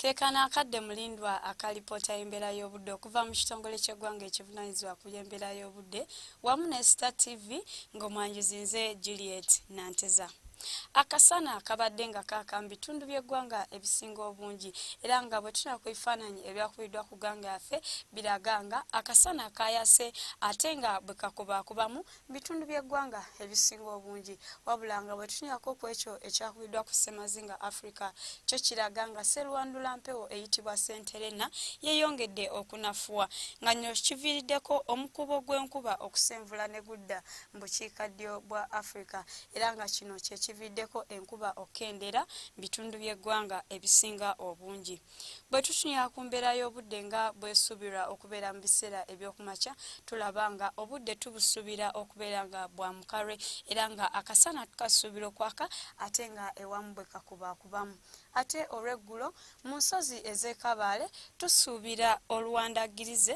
Kekano akadde mulindwa aka lipoota y'embeera y'obudde okuva mu kitongole ky'eggwanga ekivunanyizibwa ku by'embeera y'obudde wamu ne Star TV ng'omwanjuzi nze Juliet Nanteza. Akasana kabadde nga kaaka mu bitundu by'eggwanga ebisinga obungi era nga bwe tuna ku bifaananyi ebyakubiddwa ku ggwanga yaffe biraga nga akasana kaayase ate nga bwe kakubaakubamu mu bitundu by'eggwanga ebisinga obungi wabula nga bwe tunyako ku ekyo ekyakubiddwa ku ssemazinga africa kyo kiraga nga serwandula mpewo eyitibwa senterena yeeyongedde okunafuwa nga nyo kiviiriddeko omukubo gw'enkuba okusenvula ne gudda mu bukiikaddyo bwa africa era nga kino kye kiviiriddeko enkuba okukendeera mu bitundu by'eggwanga ebisinga obungi Bwe tutunuya ku mbeera y'obudde nga bwesuubirwa okubeera mu biseera ebyokumakya tulaba nga obudde tubusuubira okubeera nga bwa mukalwe era nga akasana tukasuubira okwaka ate nga ewamu bwe kakubakubamu ate olw'eggulo mu nsozi ez'ekabaale tusuubira oluwandaggirize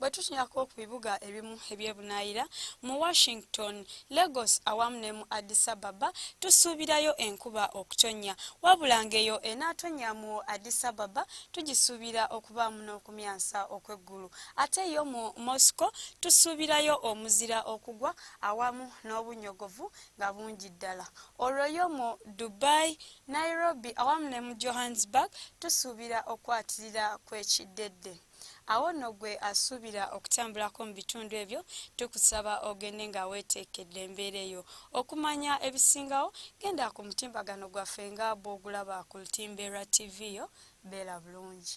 bwe tutunulako ku bibuga ebimu ebyebunaayira mu washington lagos awamu ne mu addis ababa tusuubirayo enkuba okutonnya wabula ng'eyo enaatonnya mu addis ababa tugisuubira okubaamu n'okumyansa okw'eggulu ate yo mu moscow tusuubirayo omuzira okugwa awamu n'obunnyogovu nga bungi ddala olwo yo mu Dubai, Nairobi awamu ne mu Johannesburg tusuubira okukwatirira kwekiddedde. Awo nno gwe asuubira okutambulako mu bitundu ebyo tukusaba ogende nga weeteekedde embeera eyo. Okumanya ebisingawo genda ku mutimbagano gwaffe nga bw'ogulaba ku Lutimbe lwa ttivi yo. Beera bulungi.